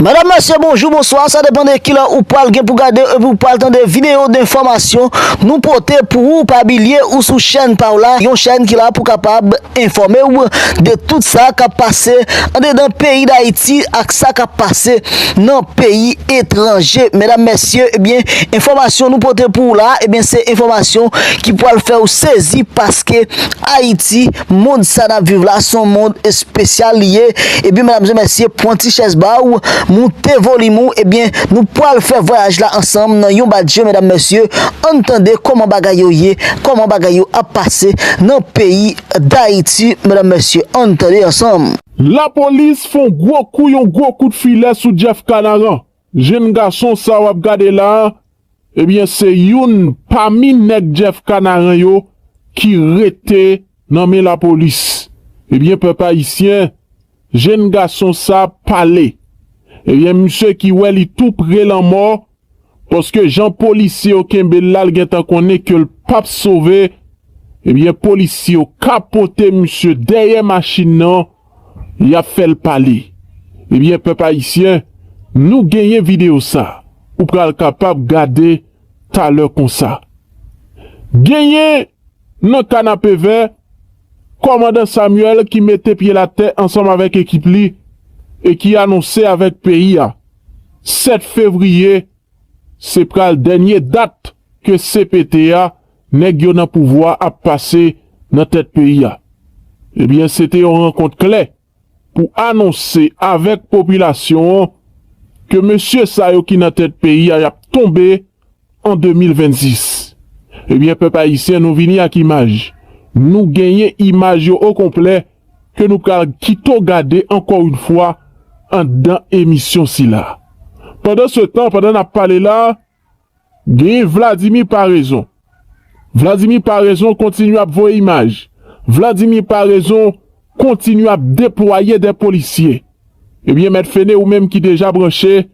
Madam mesye bonjou bonswa sa depan de kilè ou pwal gen pou gade epi ou pwal tande video de enfòmasyon nou pote pou ou pa bilye ou sou chèn paw la yon chèn ki la pou kapab enfòmew de tout sa kap pase andedan peyi dayiti ak sa kap pase nan peyi etranje medam mesye ebyen enfòmasyon nou pote pou ou la ebyen se enfòmasyon ki pwal fèw sezi paske ayiti Mond sa nap viv la son mond espesyal li ye ebyen medam e mesye pwan ti chèz ba ou moute volim ou ebyen nou pwal fè vwayaj la ansanm nan yon bat je medam mesye ann tande koman bagay yo ye koman bagay yo ap pase nan peyi dayiti medam mesye ann tande ansanm. Lapolis fon gwo kou yon gwo kout filè sou Jeff Canaran. Jenn gason sa wap gade la Ebyen se youn pami nèg Jeff Kanaran yo ki rete nan men lapolis ebyen pèp ayisyen jenn gason sa pale ebyen misye ki wè li tou pre lanmò paske jan polisye yo kenbel la l gentan konnen kel pap sove ebyen polisye yo kapote misye dèyè machin nan Yap fèl pale. Ebyen pèp ayisyen nou genyen video sa ou pral kapab gade talè konsa. Genyen nan kanapevè kòmandan Samuel ki mete pyel atè ansanm avèk ekip li e ki anonse avèk peyi a 7 fevriye se pral dènye dat ke cpt a Nèg yo nan pouvwa ap pase nan tèt peyi a. Ebyen se te yon rankont kle pou anonse avèk popilasyon an ke mesye sa yo ki nan tèt peyi a yap tonbe an 2026. Ebyen pèp ayisyen nou vini ak imaj. Nou genyen imaj yo o konplè ke nou pral kito gade ankò yon fwa andan emisyon sila. Pandan se tan, pandan nap pale la, Genyen Vladimir Paraison Vladimir Paraison kontinye ap voye imaj Vladimir Paraison kontinye ap deplwaye de polisye Ebyen Mèt Fene ou menm ki deja branche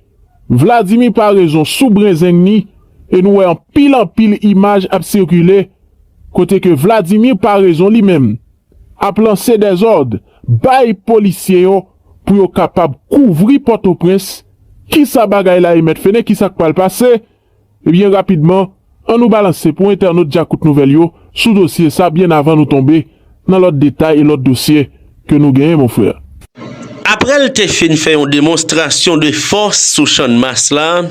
Vladimir Paraison sou brenzeng ni e nou wè anpil anpil imaj ap sikile kote ke Vladimir Paraison li menm ap lanse dezòd bay polisye yo pou yo kapab kouvri pòtoprens kisa bagay la ye mèt fene kisak pral pase ebyen rapidman an nou balanse pou entènot djakout nouvèl yo sou dosye sa byen avan nou tonbe nan lòt detay e lòt dosye ke nou genyen mon frè. Aprè l te fin fè yon demonstrasyon de fòs sou channmas la,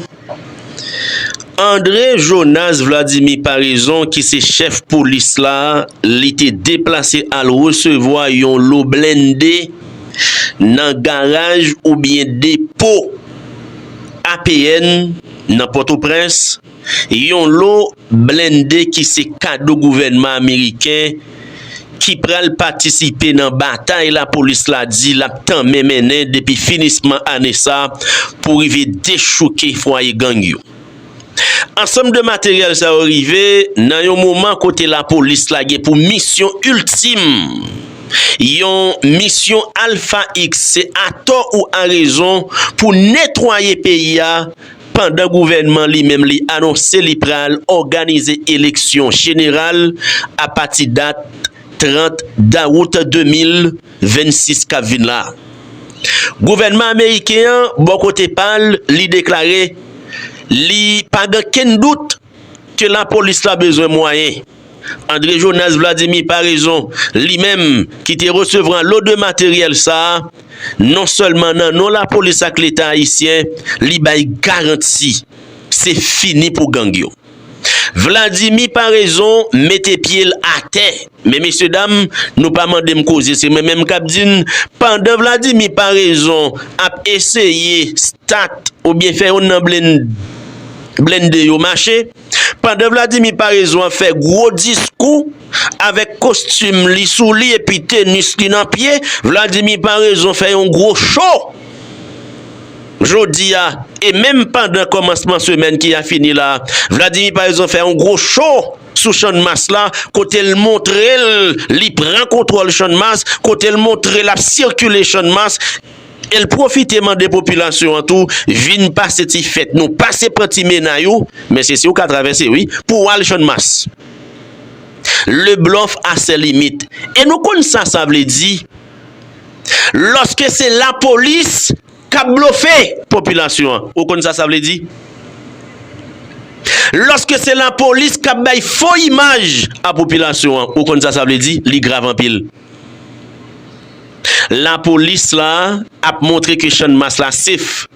Andre Jonas Vladimir Paraison ki se chèf polis la, li te deplase al resevwa yon lo blende nan garaj oubyen depo APN nan Pòtoprens, yon lo blende ki se kado gouvènman ameriken. ki pral patisipe nan batay lapolis la di l ap tanmen mennen depi finisman ane sa pou rive dechouke fwaye gang yo. Ansanm de materyèl sa yo rive nan yon moman kote lapolis la gen pou misyon iltim, yon misyon alfa x se atò ou arezon pou netwaye peyi a pandan gouvènman li menm li anonse li pral òganize eleksyon jeneral apati dat 30 dawout 2026 k ap vin la. Gouvènman ameriken an bò kote pa l li deklare li pa gen okenn dout ke la polis la bezwen mwayen. Andre Jonas Vladimir Paraison, li menm ki te resevran lo de materyèl sa, non sèlman nan non la polis ak leta ayisyen, li bay garanti se fini pou gang yo. Vladimir Paraison mete pye l atè. Men mesye dam, nou pa mande m koze se mwen menm kap di n, pandan Vladimir Paraison ap eseye start oubyen fè youn nan blende yo mache, pandan Vladimir Paraison ap fè gwo diskou avèk kostim li sou li epi tenis li nan pye, Vladimir Paraison fè yon gwo cho jodi a e menm pandan kòmansman semèn ki a fini la, Vladimir Paraison fè yon gwo cho. sou channmas la kote l montre l li pran kontwòl channmas kote l montre l ap sikile channmas e l pwofite mande popilasyon an tou vin pase ti fèt nou pase pran ti mena yo men se si w ka travèse wi pou w al channmas le blòf a sè limit e nou konn sa sa vle di lòske se lapolis kap blofe. Popilasyon an. Ou konn sa sa vle di? Loske se lapolis kap bay fo imaj a popilasyon an, ou konn sa sa vle di? Li grav anpil. Lapolis la ap montre ke Channmas la sef.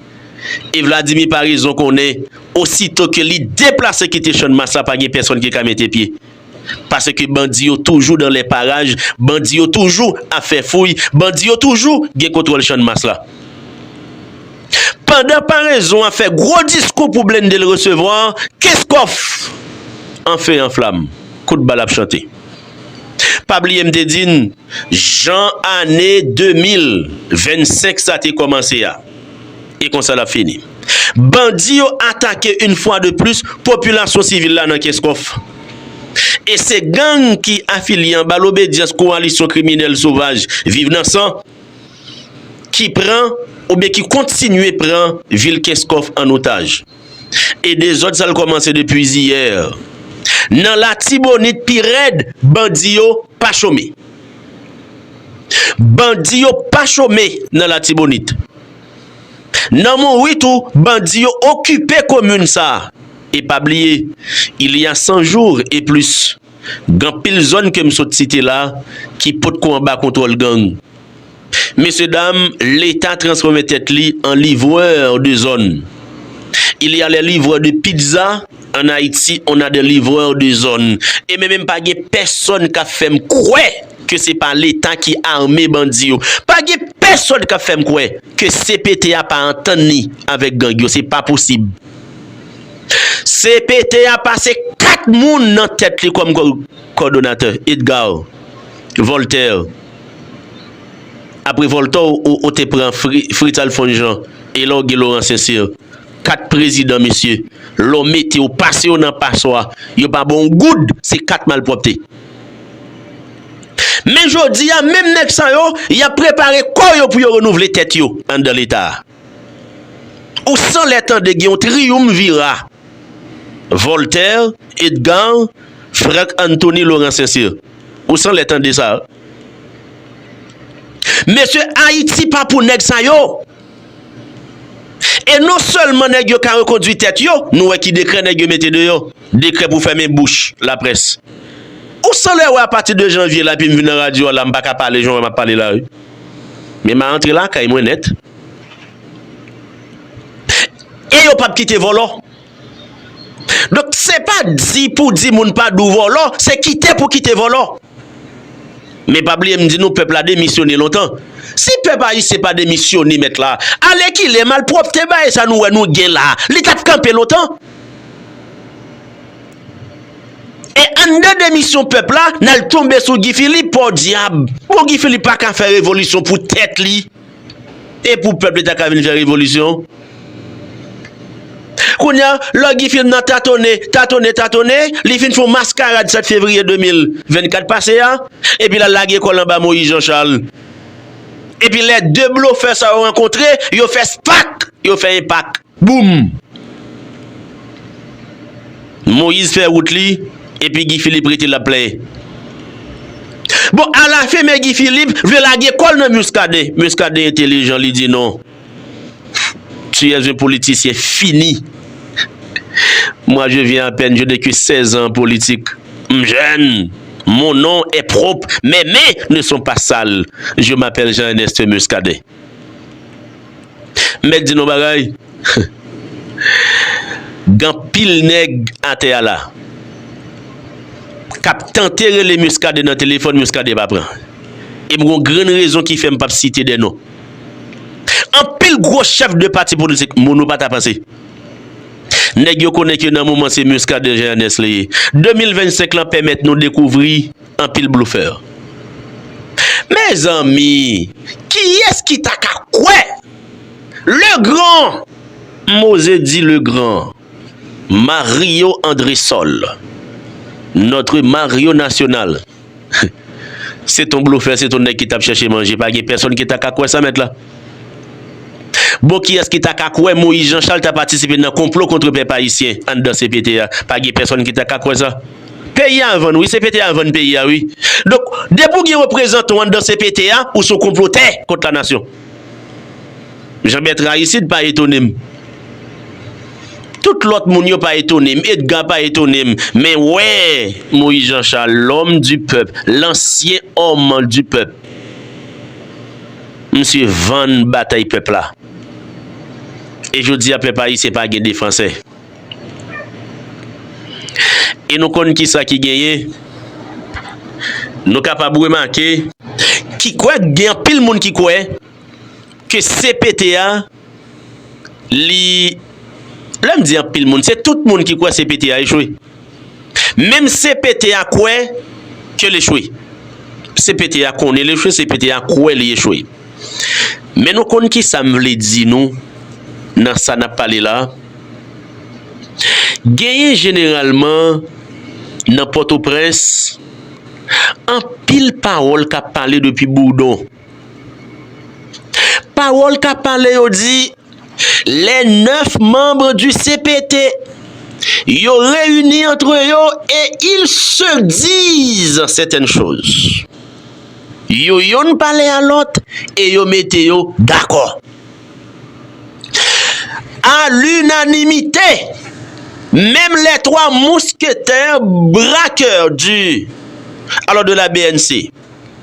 E Vladimir Paraison konnen osito ke li deplase kite Channmas la pa gen pèsonn ki ka mete pye. Paske bandi yo toujou dan lè paraj, bandi yo toujou ap fè fouy, bandi yo toujou gen kontwòl channmas la. Pandan parezon an fè gwo diskou pou blende l resevwa, Kenscoff an fe an flam, kout bal ap chante. Pa bliye m te di n. Jan ane 2025 sa te kòmanse a, e konsa lap fini. Bandi yo atake yn fwa de plis popilasyon sivil la nan Kenscoff. E se gang ki afilye anba lobedyans kowalisyon kriminèl sovaj Viv nan San ki pran oubyen ki kontinye pran vil Kenscoff an otaj. E dezòd sa l kòmanse depi ziyè. Nan Latibonit pi rèd, bandi yo pa chome. Bandi yo pa chome nan Latibonit. Nan Monwi tou, bandi yo okipe komin sa. E pa bliye, il y a san jour e plis. Gen anpil zòn ke m sot site la ki pot ko anba kontwòl gang. Mesye dam, leta transfòme tèt li an livreur de zòn. Il y a les livreurs de pizza, en Haïti on a des livreurs de zòn. E men menm pa gen pèsòn k ap fè m kwè ke se pa leta ki ame bandi yo. Pa gen pèsòn k ap fè m kwè ke cpt a pa antann li avèk gang yo. Se pa posib. Cpt a pase 4 moun nan tèt li kòm kòdonatè, Edgar, Voltaire, apre Voltaire ou te pran Fritz Alphonse Jean e la w gen Laurent Sincère, 4 prezidan mesye, lè w mete yo, pase yo nan paswa, yo pa ba w yon goud, se 4 malpwòpte. Men jodi a, menm nèg sa yo, y ap prepare kò yo pou yo renouvle tèt yo anndan leta a. Ou san lè tande gen yon triyumvira, Voltaire, Edgar, Franck Anthony Laurent Saint-Cyr. Ou san lè tande sa. Mesye Ayiti pa pou nèg sa yo. E non sèlman nèg yo ka rekondwi tèt yo, nou wè ki dekrè nèg yo mete deyò. Dekrè pou fèmen bouch laprès. Ou san lè wè apati de janvye la epi m vin nan radyo a la m pa ka pale jan w wè m ap pale la wi. Men ma antre lakay mwen nèt. E yo pap kite vòlò. Donk se pa di pou di moun pa dou vòlò, se kite pou kite vòlò. Men pa bliye m di nou pèp la demisyone lontan. Si pèp ayisyen pa demisyone mèt la, alèkile malpwòpte bae sa nou wè nou gen la, li tap kanpe lontan. E anndan demisyon pèp la, n al tonbe sou Guy Philippe, pòdyab! Bon Guy Philippe pa ka fè revolisyon pou tèt li e pou pèp li ta ka vin fè revolisyon? Kounye a, lò Guy Philippe nan tatonnen, tatonnen, tatonnen, li fin fon maskarad 7 fevriye 2024 pase a, epi l al lage kò l anba Moïse Jean Charles. Epi lè 2 blofè sa yo rankontre, yo fè spak! Yo fè enpak. Boom! Moise fè wout li epi Guy Philippe rete lap plenyen. Bon ala fen men Guy Philippe vle lage kòl nan Muscadin. Muscadin entelijan li di non. Tu es un politicien fini. Moi je viens à peine je n'ai que 16 ans en politique. M jèn. Mon nom est propre mes mains ne sont pas sales. Je m'appelle Jean Ernest Muscadin. M mèt di nou yon bagay, gen anpil nèg atè a la k ap tante rele Muscadin nan telefòn, Muscadin pa pran. E m gen yon grenn rezon ki fè m p ap site de non. Anpil gwo chèf de pati politik, moun ou pa ta panse, nèg yo konnen ke nan moman se Muscadin Jean Ernest li ye. 2025 lan pèmèt nou dekouvri. Anpil blofè. Mezanmi kiyes ki ta ka kwè le gran Mose di le gran Mario Andresol notre Mario national se ton blofè se ton nèg ki tap chèche manje pa gen pèson ki ta ka kwè sa mèt la bon kiyes ki ta ka kwè Moise Jean Charles ta patisipe nan konplo kontre pèp ayisyen anndan CPT a pa gen pèson ki ta ka kwè sa. Peyi a vann wi CPT a vann peyi a wi donk depi ou gen reprezantan w anndan CPT a ou se yon konplotè kont la nasyon Jean Bertrand Aristide pa etone m tout lòt moun yo pa etone m Edgar pa etone m men wè Moïse Jean Charles l'homme du peuple l'ancien homme du peuple misye vann batay pèp la e jodi a pèp ayisyen pa gen defansè. E nou konn ki sa ki genyen, nou kapab remake, ki kwè k gen anpil moun ki kwè ke cpt a li, lè m di anpil moun, se tout moun ki kwè cpt a echwe. Menm cpt a kwè ke l echwe. Cpt a konnen l echwe, cpt a kwè li echwe. Men nou konn ki sa m vle di nou nan sa n ap pale la a? Genyen jeneralman nan Pòtoprens anpil pawòl k ap pale depi Bourdon. Pawòl kap pale yo di lè 9 manb du cpt yo reyini antre yo e il se diz sètèn choz. Yo yonn pale a lòt e yo mete yo dakò. A l'unanimite menm lè 3 mousketè brakè du alors de la bnc.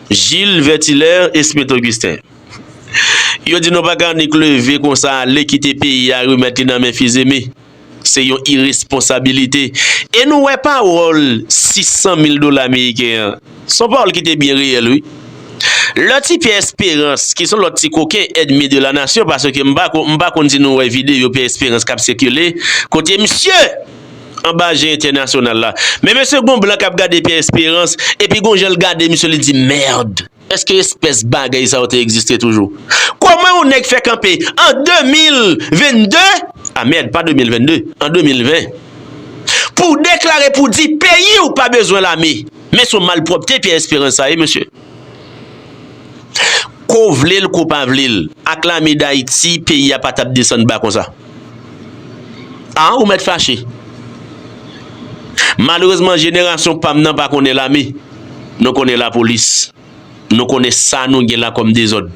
Jil Vètilè Esprit Ogisten Yo di nou pa ka annik leve konsa ale kite peyi a remèt li nan men Fizeme. Se yon iresponsabilite. E nou wè pawòl 600 mil dola meriken an, se yon pawòl ki te byen reyèl wi. Lè ti Pyè Esperans ki se yon lòt ti koken èdmi de la nasyon paske m pa konn si nou wè videyo Pyè Esperans k ap sikile kote misye! Anba je entènasyonal la. Men mesye gon blan kap gade Pierre Esperance epi gon janl gade misye li di merd. Eske espès bagay sa yo te egziste toujou? Koman yon nèg fè kanpe an 2022, a merd pa 2022, an 2020 pou w deklare pou w di peyi w pa bezwen lame? Men son malpwòpte Pierre Esperance sa ye mesye. Ko vle l ko pa vle l, ak lame dayiti peyi a pa t ap desann ba konsa. A ou mèt fache. Malerezman jenerasyon pa m nan pa konnen lame. Nou konnen lapolis. Nou konnen sa nou gen la kòm dezòd.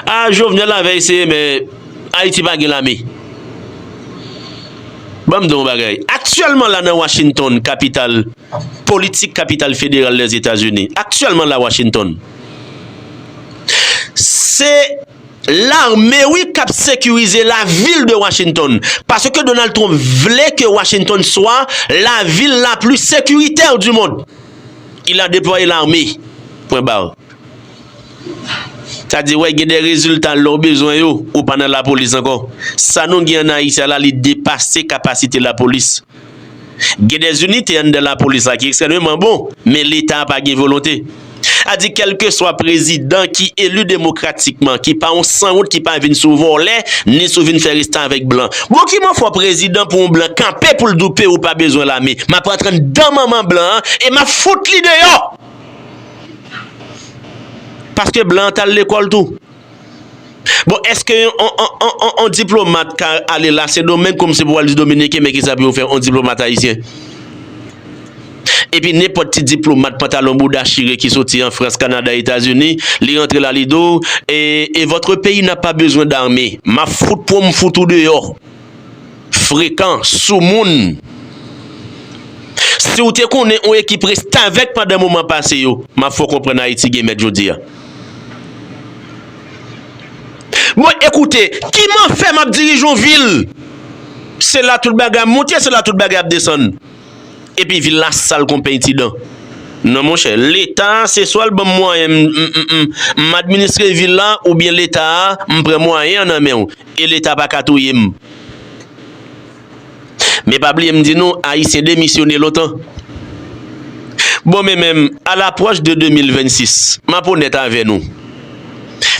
Aah jovenel la vè eseye men Haïti pa gen lame Ban m di w yon bagay aktyèlman la nan Washington kapital politik kapital federal dè etazini aktyèlman la Washington se lame wi k ap sekirize la vil de Washington paske Donald Trump vle ke Washington swa la vil la pli sekiritè di mond Il a deploye l'armee. Pwen bar. Sa di wè gen de rezilta lè w bezwen yo, ou pa nan lapolis ankò. Sa nou gen an Ayiti a la li depase kapasite lapolis. Gen de inite anndan lapolis la ki ekstrèmeman bon, men leta a pa gen volonte. A di kèlkeswa prezidan ki eli demokratikman, ki pa yon sanwont ki pa vin sou vòlè, ni sou vin fè restavèk blan. Bon ki man fò prezidan pou yon blan kanpe poul di w peyi w pa bezwen lame map antre nan dan manman blan an e map fout li deyò paske blan an tal lekòl tou bon eske yon diplomat ka ale la sendomeng kòmsi pou al di dominiken men kisa pou yo fè yon diplomat ayisyen. Epi nenpòt ti diplomat pantalon bouda chire ki soti an Frans, Kanada, Etazini, li rantre la li di w, e e votre pays n'a pas besoin d'armée. M'ap fout pou w m fout ou deyò. Frekan, soumoun. Si w te konnen on ekip restavèk pandan moman pase yo, m'ap fè w konprann Ayiti gen mèt jodi a. Mwen ekoute, kiman fè m'ap dirije on vil? Se la tout bagay ap moute, se la tout bagay ap desann. Epi vil la sal kon peny ti dan. Non monchè, leta se swa l banm mwayen m administre vil la oubyen leta a m pran mwayen an nan men w e leta pa ka touye m. Men pa bliye m di nou ayisyen demisyone lontan. Bon men men m a lapwòch de 2026 m ap onèt avè nou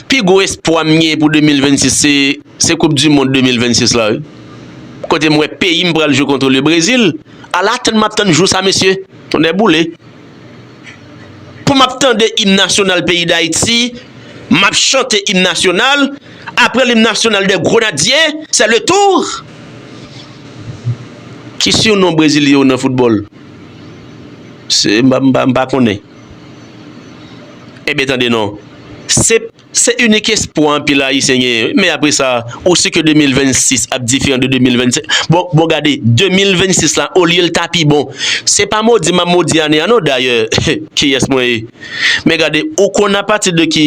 pi gwo espwa m gen pou 2026 se koup di mond 2026 la wi. kote m wè peyi m pral jwe kontre le Brezil ala tann map tann jou sa mesye tonnè boule pou map tande im nasyonal peyi dayiti map chante im nasyonal apre lim nasyonal de grenadye se le tour ki sur non brezilye yo nan foutbòl se m pa konnen e byen tande non se. Se inik espwa anpil ayisyen genyen wi men apre sa ou si ke 2026 ap diferan de 2025 bon bon gade 2026 la olye l ta pi bon se pa modi map modi ane a non dayè kiyès mwen ye men gade ou konn apati de ki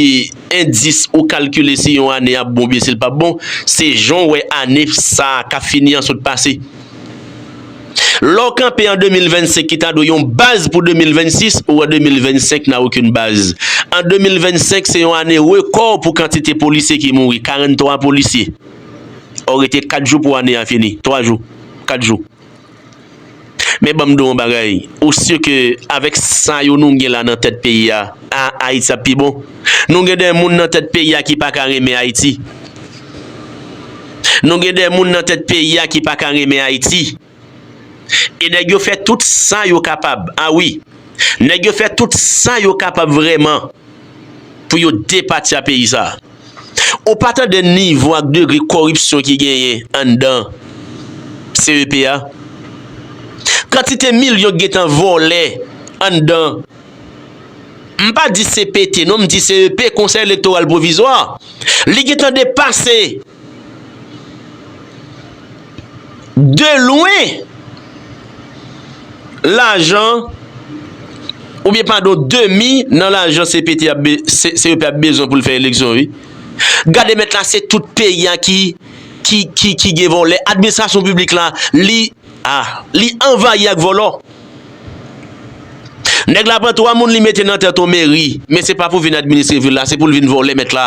endis ou kalkile si yon ane ap bon oubyen si l pap bon se jan w wè ane sa kap fini an sot pase. Lè w kanpe an 2025 ki ta dwe yon baz pou 2026, ou an 2025 n'a aucune base. An 2025 se yon ane rekò pou kantite polisye ki mouri, 43 polisye. Ò rete 4 jou pou ane a fini, 3 jou, 4 jou. Men banm di w yon bagay, ou sur ke avèk sa yo nou gen la nan tèt peyi a, ah Ayiti ap pi bon? Nou gen de moun nan tèt peyi a ki pa ka renmen Ayiti. Nou gen de moun nan tèt peyi a ki pa ka renmen Ayiti. E nèg yo fè tout sa yo kapab, a wi, nèg yo fè tout sa yo kapab vrèman pou yo depatya peyi sa a. Ou pa tande nivo ak degre koripsyon ki genyen anndan CEP a? Kantite milyon ki gen tan vòlè anndan. M pa di CPT non, m di CEP, Konsèy Elektoral Pwovizwa. Li gen tan depase de lwen lajan oubyen padon demi nan lajan CPT ap, CEP ap bezwen pou l fè eleksyon wi. Gade mèt la se tout peyi a ki, ki, ki gen vòlè. Administrasyon piblik la li. Ah li anvayi ak vòlò. Nèg la pran 3 moun li mete nan tèt on meri men se pa pou vin administre vil la se poul vin vòlè mèt la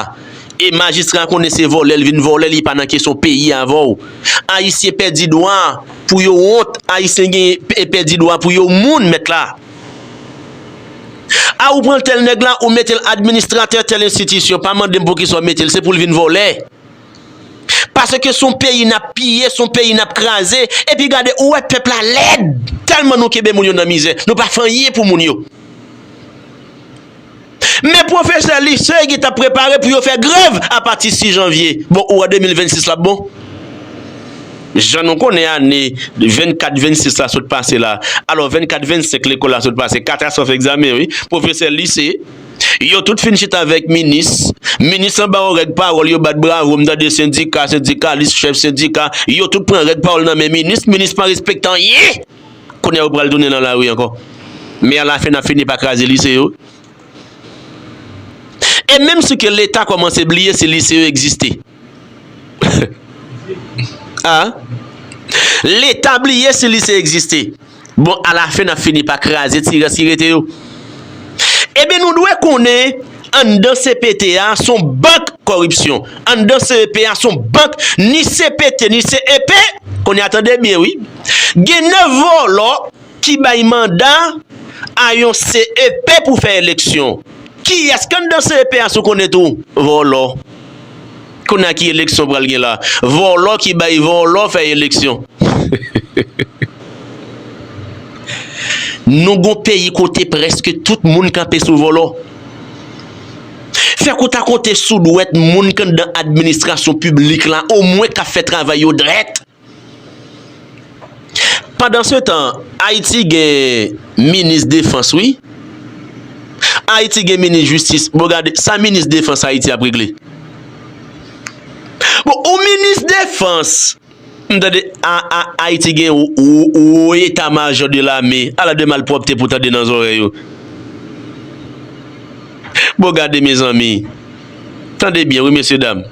e majistra konnen se vòlè li vin vòlè li pa nan kesyon peyi avèw ayisyen pèdi dwa pou yo wont ayisyen gen e pèdi dwa pou yo moun mèt la ah ou pran tèl nèg la ou metel administratè tèl enstitisyon pa mandem poukisa ou metel se poul vin vòlè. Paske son peyi nap piye son peyi nap kraze epi gade ou wè pèp la lèd tèlman nou kenbe moun yo nan mizè nou pa fè anyen pou moun yo men pwofesè lise ki tap prepare pou yo fè grèv apati 6 janvye bon ou wè 2026 lap bon jan nou konnen ane 24 26 la sot pase la alò 24 25 lekòl la sot pase 4 a sòf egzamen wi pwofesè lise. Yo tout fin chita avèk minis. Minis lan ba yon règ pawòl, yo bat bravo, m tande sendika, sendikalis, chèf sendika, yo tout pran règ pawòl nan men minis, minis pa respekte anyen! Kounye a yo pral tounen nan lari ankò. Men alafen n ap fini pa kraze lise yo. E menm si ke leta kòmanse bliye si lise yo egziste. Ahh leta bliye si lise egziste bon a la fen nap fini pa kraze ti rès ki rete yo ebyen nou dwe konnen anndan CPT a son bank kòripsyon anndan CEP a son bank ni CPT ni CEP kounye a tande byen wi gen 9 vòlò ki bay manda a yon CEP pou fè eleksyon. Kiyès k anndan CEP a si w konnen tou? Vòlò. Kounye a ki eleksyon pral gen la? Vòlò ki bay vòlò fè eleksyon. Nou gon peyi kote prèske tout moun kanpe sou vòlò. Fèk ou ta konte sou dwèt moun k anndan administrasyon piblik la omwen k ap fè travay yo drèt. Pandansetan ayiti gen minis defans wi ayiti gen minis jistis bon gade sa minis defans ayiti ap regle bon ou minis defans m tande aa ayiti gen wo eta majò de lame ala de malpwòpte pou tande nan zòrèy ou bon gade mezanmi Tande byen wi mesye dam.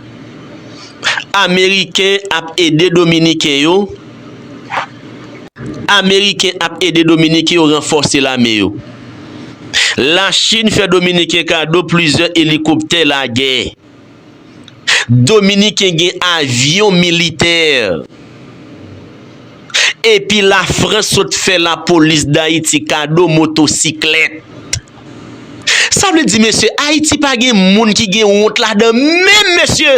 Ameriken ap ede dominiken yo Ameriken ap ede dominiken yo ranfòse lame yo. La Chine fè dominiken kado plizyè elikoptè lagè. Dominiken gen avyon militè. Epi la Frans sot fè la polis dayiti kado motosiklèt. Sa vle di mesye ayiti pa gen moun ki gen wont ladan menm mesye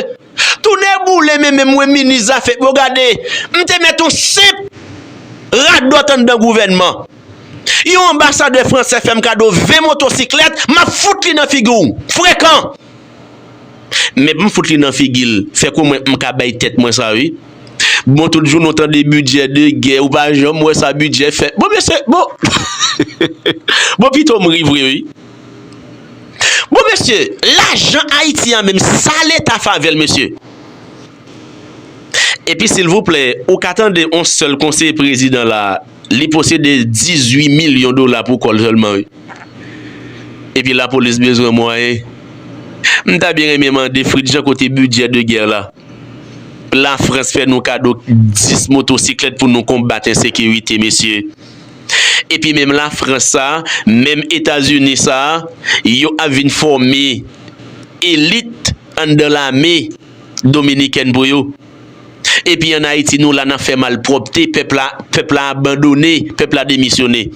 tou nè boule men menm mwen minis zafè bon gade m te mèt yon senp radòt anndan gouvènman yon anbasadè fransè fèm kado 20 motosiklèt map fout li nan figi w frekan. Mèt m fout li nan figi l fè kou mwen m ka bay tèt mwen sa wi bon tout jounen w tande bidjè de gè ou pa janm wè sa bidjè fè bon mesye bon heheheh bon pito m ri vre wi bon mesye lajan ayiti a menm sa leta favè l mesye. Epi silvouplè ou ka tande on sèl konseye prezidan la li posede 18 milyon dola pou kòl sèlman wi epi lapolis bezwen mwayen m ta byen renmen mande Fritz Jean kote bidjè de gè la la frans fè nou kado 10 motosiklèt pou nou konbat ensekirite mesye epi menm la frans sa menm etazini sa yo ap vin fòme elit anndan lame. Dominiken pou yo. Epi an Ayiti nou la nan fè malpwòpte, pèp la, pèp la abandone, pèp la demisyone.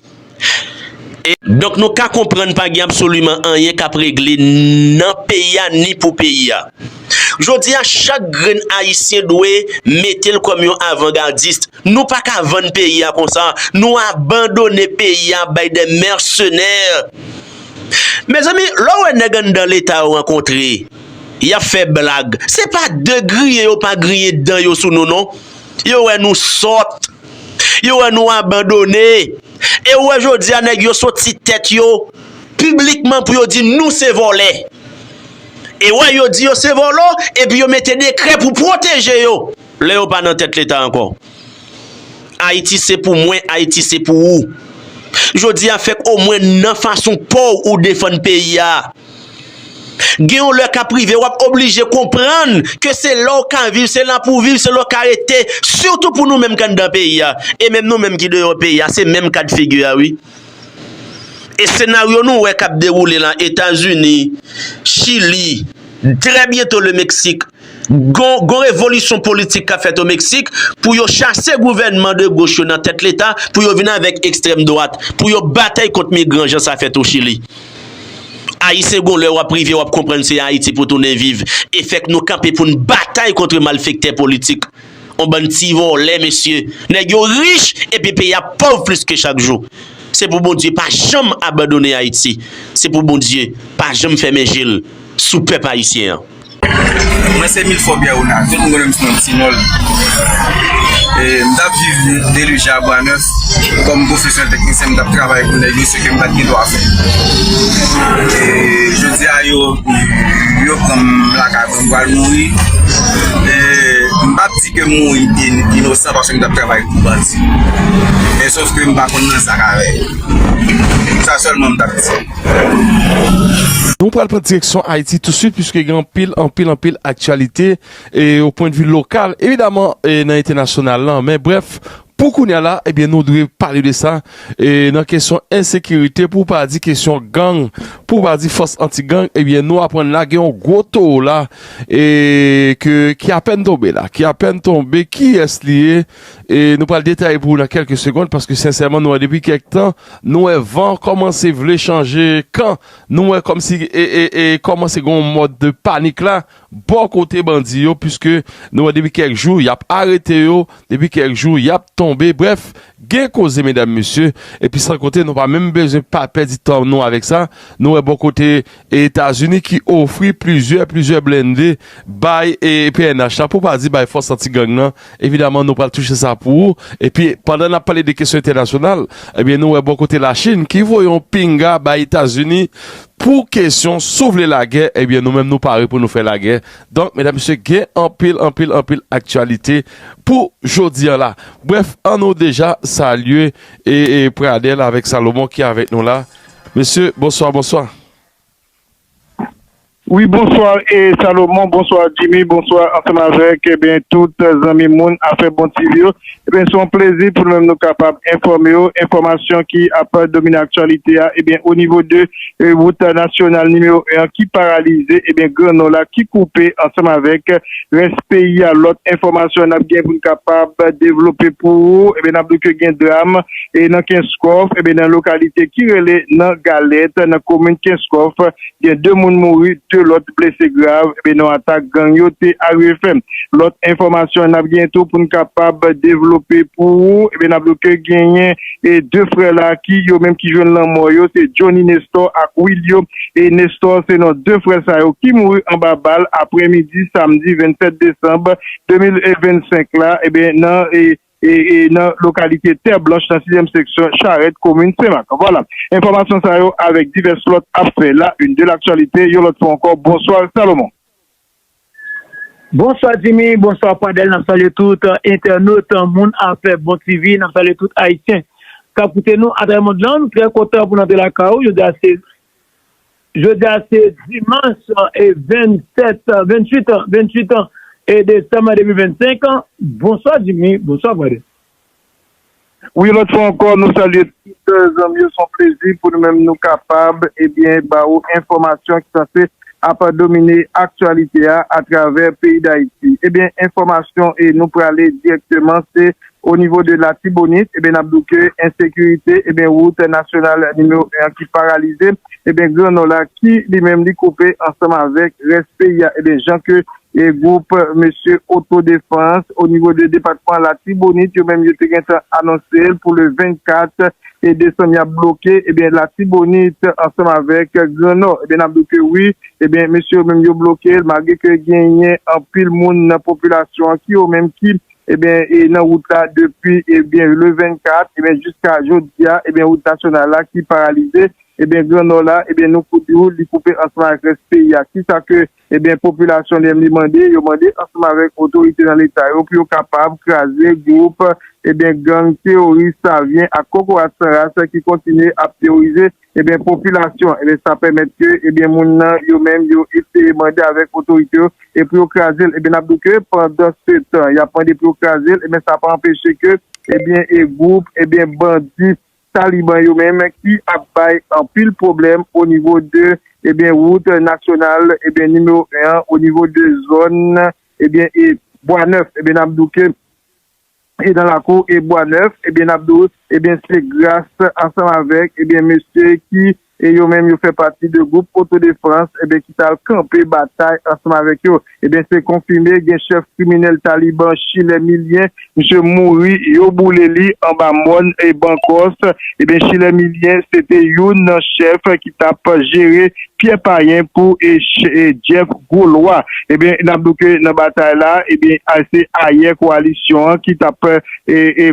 E. Donk nou ka konprann pa gen absoliman anyen kap regle nan peyi a ni pou peyi a. Jodi a chak grenn Ayisyen dwe mete l kòm yon avangadist. Nou pa ka vann peyi a konsa. Nou abandone peyi a bay dè mèsenè. Mezanmi lè w wè nèg anndan leta yo rankontre. Yap fè blag. Se pa de griyen yo pa griyen dan yo sou nou non. Yo wè nou sòt. Yo wè nou abandone. E ou wè jodi a nèg yo sot si tèt yo piblikman pou yo di nou se vòlè. E wè yo di yo se vòlò epi yo mete dekrè pou pwoteje yo lè yo pa nan tèt leta ankò. Ayiti se pou mwen, Ayiti se pou ou. Jodi a fèk omwen nan fason paw ou defann peyi a. Gen yon lè kap rive wap oblije konprann ke se la w ka viv, se la pou w viv, se la w ka rete, sitou pou nou menm k anndan peyi a, e menm nou menm ki deyò peyi a se menm kad figi a wi. E senaryo nou wè kap dewoule la Etazini, Chili, trè byento le Meksik, Gon revolisyon politik kap fèt o Meksik pou yo chase gouvènman de goch yo nan tèt leta pou yo vin avèk ekstrèm dwat pou yo batay kont migran jan sa fèt o Chili. Ayisyen gon lè wap rive wap konprann se Ayiti pou tounen viv e fèk nou kanpe poun batay kontre malfektè politik. On bann ti vòlè mesye. Nèg yo rich epi peyi ap pòv plis ke chak jou. Se pou Bondye pa janm abandone Ayiti. Se pou Bondye pa janm fèmen jel sou pèp Ayisyen an. Mwen se Milfò Pyè Wonal, tout moun konnen m sou non Ti Nòl. M t ap viv Delije a Bwa Nèf kòm pwofesè teknisyen, m t ap travay pou nèg yo, se ke m pa t gen dwa fè. Jodi a yo pran m lakay pou m pral mouri. M pa t di ke m mouri inosan paske m t ap travay pou bandi. Men sòf ke m pa konn nan zak avè yo. Sa sèlman m t ap di. Nou pral pran direksyon Ayiti touswit pwiske gen anpil, anpil, anpil aktyalite e o pwen de vi lokal, evidaman e nan entènasyonal lan. Men brèf, pou kounya la, ebyen nou dwe pale de sa e nan kesyon ensekirite pou pa di kesyon gang, pou pa di fòs anti gang, ebyen nou aprann la gen yon gwo towo la e ke ki apèn tonbe la, ki apèn tonbe, kiyès li ye? E nou pral detaye pou ou nan kèlke segond paske sensèman nou wè depi kèk tan Nou wè van kòmanse vle chanje kan, nou wè kòmsi e kòmanse gen yon mòd de panik la bò kote bandi yo puiske nou wè depi kèk jou y ap arete yo, depi kèk jou y ap tonbe, brèf gen koze medam mesye epi san konte nou pa menm bezwen pa pèdi tan nou avèk sa, nou wè bò kote. E Etazini ki ofri plizyè, plizyè blende bay e pnh la, pou pa di bay fòs anti gang nan, evidaman nou pral touche sa pou ou. E pi pandan n ap pale de kesyon entènasyonal, e byen nou wè bò kote la Chinn ki voye yon pinga bay Etazini pou kesyon si w vle lagè, e byen nou menm nou pare pou nou fè lagè. Donk medam mesye gen anpil, anpil, anpil aktyalite pou jodi an la. Brèf an nou deja salye e Pradel avèk Salomon ki avèk nou la. Mesye bonswa bonswa. Wi bonswa e Salomon bonswa Jimmy bonswa ansanm avèk ebyen tout zanmi moun afè bon TV yo ebyen son plezi pou nou menm nou kapab enfòme w enfòmasyon ki ap domine aktyalite a ebyen o nivo de wout nasyonal nimewo 1 an ki paralize ebyen gran nò la ki koupe ansanm avèk rès peyi a lòt enfòmasyon nap gen pou n kapab devlope pou ou ebyen nap di w ke gen dram e nan Kenskòf, enben nan lokalite ki rele nan Galèt nan komin Kenskòf gen 2 moun mouri 2 lòt blese grav enben nan atak gang yo te arive fè. Lòt enfòmasyon nap genyen tou poun kapab devlope pou ou enben nap di w ke genyen 2 frè la ki yo menm ki jwenn lanmò yo se Jhonny Nestor ak Willio e Nestor se non 2 frè sa yo ki mouri anba bal aprè midi samdi 27 desanm 2025 la enben nan nan lokalite Tè Blanch nan sizyèm seksyon Charèt komin Senmak. Vwala, enfòmasyon sa yo avèk divès lòt ap fè la une de l'actualité yon lòt fwa ankò. Bonswa Salomon. Bonswa Jimmy, bonswa Pradèl, n ap salye tout entènot moun afè bon TV, n ap salye tout Ayisyen k ap koute nou atravè mond lan. Nou trè kontan pou n antre lakay ou jodi a se Jodi a se dimanch 27 28 28 desanm 2025 bonswa Jimmy bonswa Gode. Wi lòt fwa ankò nou salye tout zanmi yo son plezi pou nou menm nou kapab ebyen ba ou enfòmasyon ki sanse ap domine aktyalite a atravè peyi dayiti ebyen enfòmasyon e nou prale dirèkteman se O nivo de Latibonit, eben n ap di w ke ensekirite, eben wout nasyonal nimewo 1 an ki paralize, eben gran Nò la ki li menm li koupe ansanm avèk rès peyi a, eben jan ke gwoup mesye otodefans o nivo de depatman Latibonit yo menm yo te gen tan anonse l pou le 24 desanm y ap bloke eben Latibonit ansanm avèk gran Nò, eben n ap di w ke wi, eben mesye yo menm yo bloke l malgre ke genyen anpil moun nan popilasyon an ki yo menm ki Ebyen e nan wout la depi ebyen le 24 ebyen jiska jodi a ebyen wout nasyonal la ki paralize ebyen gran nò la ebyen nou pou di ou li koupe ansanm avèk rès peyi a ki sa ke ebyen popilasyon li menm li mande yo mande ansanm avèk otorite nan leta yo pou yo kapab kraze gwoup ebyen gang teworis savyen ak kokorat san ras ki kontinye ap teworize Ebyen popilasyon ebyen sa pèmèt ke ebyen moun nan yo menm yo eseye mande avèk otorite yo e pou yo kraze l ebyen n ap di w ke pandansetan y ap mande pou yo kraze l ebyen sa pa anpeche ke ebyen e gwoup ebyen bandi taliban yo menm ki ap bay anpil pwoblèm o nivo de ebyen wout nasyonal ebyen nimewo 1 an o nivo de zòn ebyen e bwa nèf ebyen n ap di w ke. e nan lakou e bwa nèf ebyen nap di w ebyen se gras ansanm avèk ebyen mesye ki e yo menm yo fè pati de gwoup otodefans ebyen ki tal kanpe batay ansanm avèk yo ebyen se konfime gen chèf kriminèl taliban chilè milyen misye mouri yo boule li anba mòn e bankòs ebyen chilè milyen se te youn nan chèf ki tap jere Pyè Payen pou Jeff Gwo Lwa. Ebyen n ap di w ke nan batay la, ebyen se ayè kowalisyon an ki t ap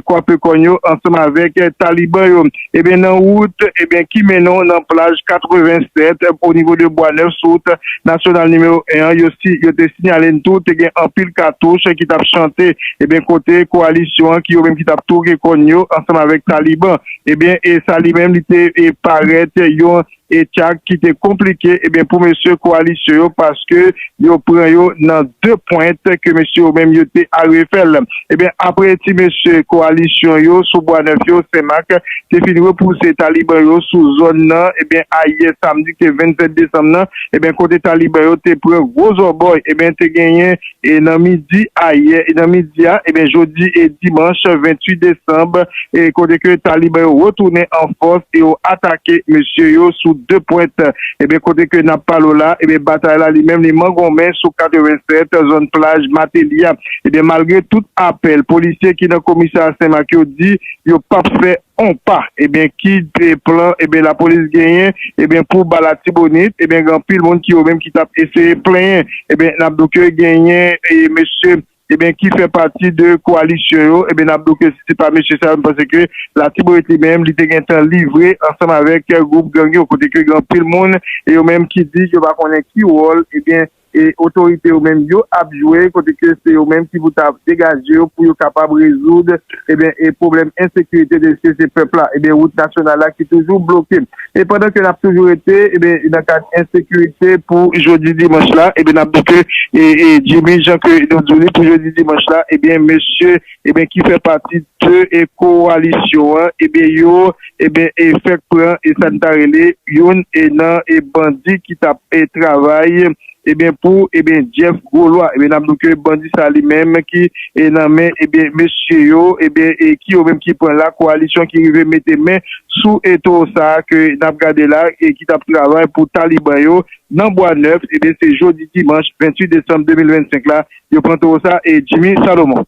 kwape kòn yo ansanm avèk Taliban yo. Ebyen nan wout ebyen ki mennen w nan plaj 87 o nivo de Bwa Nèf sou wout nasyonal nimewo 1 an, yo te sinyale n tou te gen anpil katouch ki t ap chante ebyen kote kowalisyon an ki yo menm ki t ap twoke kòn yo ansanm avèk Taliban. Ebyen sa li menm li te parèt yon. E tchak ki te konplike ebyen pou mesye koalisyon yo paske yo pran yo nan de pwent ke mesye yo menm yo te arive fèl. Ebyen apre ti mesye koalisyon yo sou bwa nèf yo, senmak, te fin repouse taliban yo sou zòn nan ebyen ayè samdi ki te 27 desanm nan ebyen kote taliban yo te pran gwo zòbòy ebyen te genyen e nan midi ayè e nan midi a ebyen jodi e dimanch 28 desanm e kote ke taliban yo retounen an fòs e yo atake mesye yo sou 2 pwent ebyen kote ke nap pale w la ebyen batay la li menm li mangonmen sou 87 zòn plaj mateli a ebyen malgre tout apèl polisye ki nan komisarya senmak yo di yo pap fè Konpa ebyen kid p plan ebyen la polis genyen ebyen pou ba latibonit ebyen gen anpil moun ki yo menm ki tap eseye plenyen ebyen nap do ke genyen eye mesye ebyen ki fè pati de koalisyon yo ebyen nap do ke si se pa mesye sa yo m panse ke latibonit li menm li te gentan livre ansanm avèk gwoup gang yo kote ke gen anpil moun e yo menm ki di yo pa konnen ki wòl ebyen E otorite yo menm yo ap jwe kote ke se yo menm ki pou ta degaje yo pou yo kapab rezoud eben e pwoblèm ensekirite deske se pèp la eben wout nasyonal la ki toujou bloke. E pandan ke n ap toujou rete eben nan kad ensekirite pou jodi dimanch la eben n ap di ke e e Jimmy jan ke nou di li pou jodi dimanch la eben mesye ebyen ki fè pati de e kowalisyon an ebyen yo ebyen e fèk pran e sa n ta rele youn e nan e bandi ki t ap e travay ebyen pou ebyen Jeff Grolwa ebyen n ap di w ke bandi sa li menm ki e nan men ebyen mesye yo ebyen e ki yo menm ki pran la kowalisyon ki rive mete men sou e towo sa a ke n ap gade la e ki t ap travay pou taliban yo nan bwa nèf ebyen se jodi dimanch 28 desanm 2025 la Yo pran towo sa e Jimmy Salomon.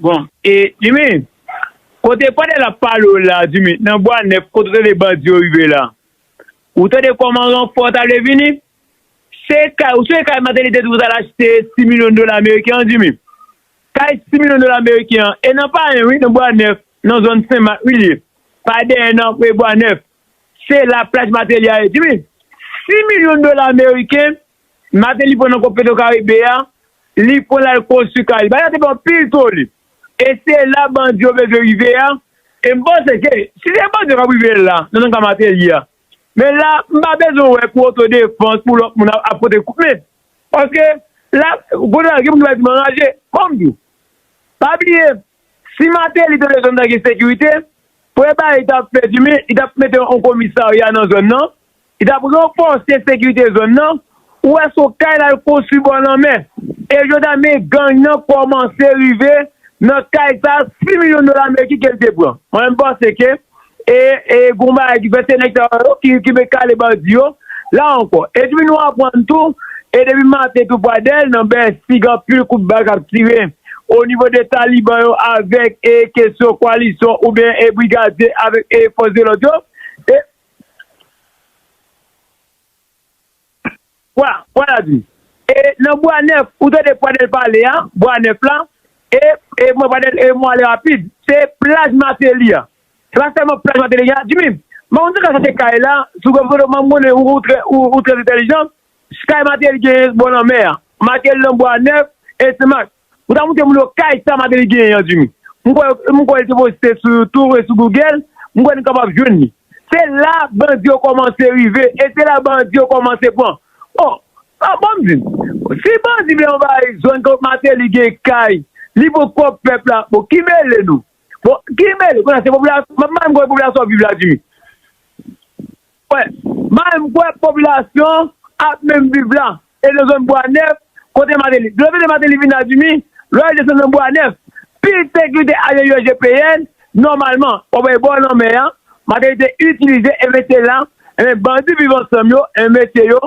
Bon e Jimmy kote pandan lap pale w la Jimmy nan bwa nèf kot rele bandi yo rive la ou tande kòman ranfò ta vle vini se kay ou sonje kay Martelly te di pou ta al achte 6 milyon dola ameriken an Jimmy kay 6 milyon dola ameriken an e nan payen wi nan bwa nèf nan zòn senmak wi li ye pa dèyè nan bwa nèf. Se la plaj Mateli a ye di wi. 6 milyon dola meriken Mateli pran nan kont Petrocaribe a, li pran l al konstwi kay li. Bagay la te fè anpil toli. E se la bandi yo bezwen rive a. E m panse ke si se bandi yo k ap rive la, nan nan ka Mateli a, men la m pa bezwen wè pou otodefans, pou lòt moun ap pote kout men. Paske la, kounye a gen moun ki pral di m anraje. Fò m di w, pa bliye, Si Mateli te vle zòn nan gen sekirite, pou epay li tap fè di men, li tap mete yon komisarya nan zòn nan, li tap ranfòse sekirite zòn nan, ou wè son kay lal konstwi bò lanmè, e jodi a men gang nan kòmanse rive nan kay sa, 6 milyon dola ameriken kel te pran. Mwen menm panse ke E gon bagay ki fè se nèg sa yo ki met kale bandi yo la ankò. Epi nou aprann tou e depi maten tou Pradèl nan Bèsi gen anpil kout bal k ap tire o nivo de Taliban yo avèk e kesyon kwalisyon oubyen e brigadye avèk e fòs de lòd yo e Bwa, bwa la di. E nan bwa nèf, ou tande Pradèl pale a, bwa nèf la, e, e mwen Pradèl e mwen ale rapid, se plaj Mateli a. Se pa sèlman plaj Mateli gen a. Djimi, m pa konn si sa ka se kay la, sou gwo foto m konnen ou ou trè ou ou trè entèlijan, kay Mateli genyen bò lanmè a. Mateli nan bwa nèf e Senmak. Ou ta moute m lo kay sa Martelly genyen an Jimmy. M kwè m kwè li te poste sou YouTube e sou Google, m kwè nou kapab jwenn li. Se la bandi yo kòmanse rive e se la bandi yo kòmanse pran. Bon, ban m di n, si bandi vle anvayi zòn kote Martelly gen kay, li pou pwòp pèp la, bon ki mele nou? Bon, ki mele, kounye a se popilasyon, m ap mande m kote popilasyon an viv la Jimmy? Kwè. May m kwè popilasyon an ap menm viv la e nan zòn bwa nèf kote Mateli. Dlo vide Mateli vin nan Dimi, lè li desann nan bwa nèf, piske li te ale yo GPN, nòmalman, wap wè bò lanmè a, Mateli te itilize e mete la, enben bandi viv ansanm yo, enben mesye yo,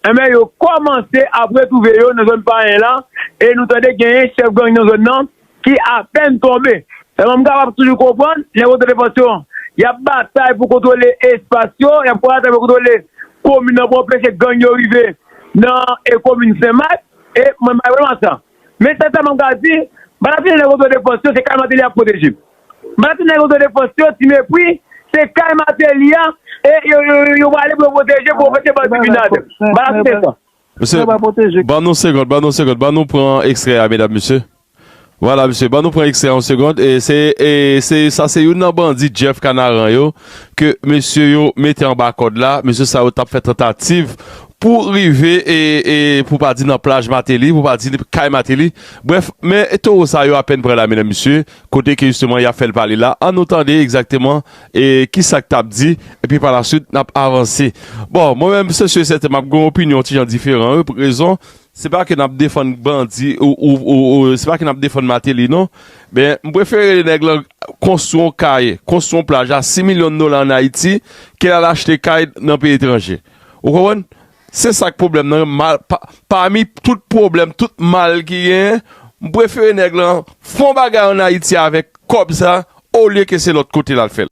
enben yo kòmanse ap retwouve yo nan zòn Payen la e nou tande genyen chèf gang nan zòn nan ki apèn tonbe. Sèlman m kapab toujou konprann nèg otan defansyon an. Y ap batay pou kontwole espas yo, y ap batay pou kontwole komin nan pou anpeche gang yo rive nan komin Sen Mak e mwen bay bwa nan sa. Men sèl sa mwen ka di, m pa ta tounen nèg otan defansyon se kay Mateli a k pwoteje m. M pa ta tounen nèg otan defansyon ti mepri se kay Mateli a e yo prale pou yo pwoteje pou yo fè se bandi Binad. M pa ta tounen sa. Mesye, ban nou segond, ban nou segond, ban nou pran ekstrè a medam mesye. Vwala mesye, ban nou pran ekstrè a yon segond. E se, e se, sa se youn nan bandi Jeff Kanaran yo ke mesye yo mete anba kòd la. Mesye sa yo tap fè tantativ pou rive e, e pou pa di nan plaj Mateli, pou pa di kay Mateli. Brèf, men towo sa yo apèn prè la medam mesye, kote ke jisteman yap fèl pale la. An nou tande ekzakteman. E kisa k t ap di? Epi palasuit n ap avanse. Bon, mwen menm se si e sèten m ap gen yon opinyon yon ti jan diferan wi. Pou ki rezon? Se pa ke n ap defann bandi ou se pa ke n ap defann Mateli non. Men, m prefere nèg lan konstwi yon kay, konstwi yon plaj a 6 milyon dola ann Ayiti ke l al achte kay nan peyi etranje. Ou konprann? Se sa k pwoblèm nan. Pami tout pwoblèm, tout mal ki genyen, m prefere nèg lan fè yon bagay ann Ayiti avèk kòb sa olye ke se lòt kote l al fè l.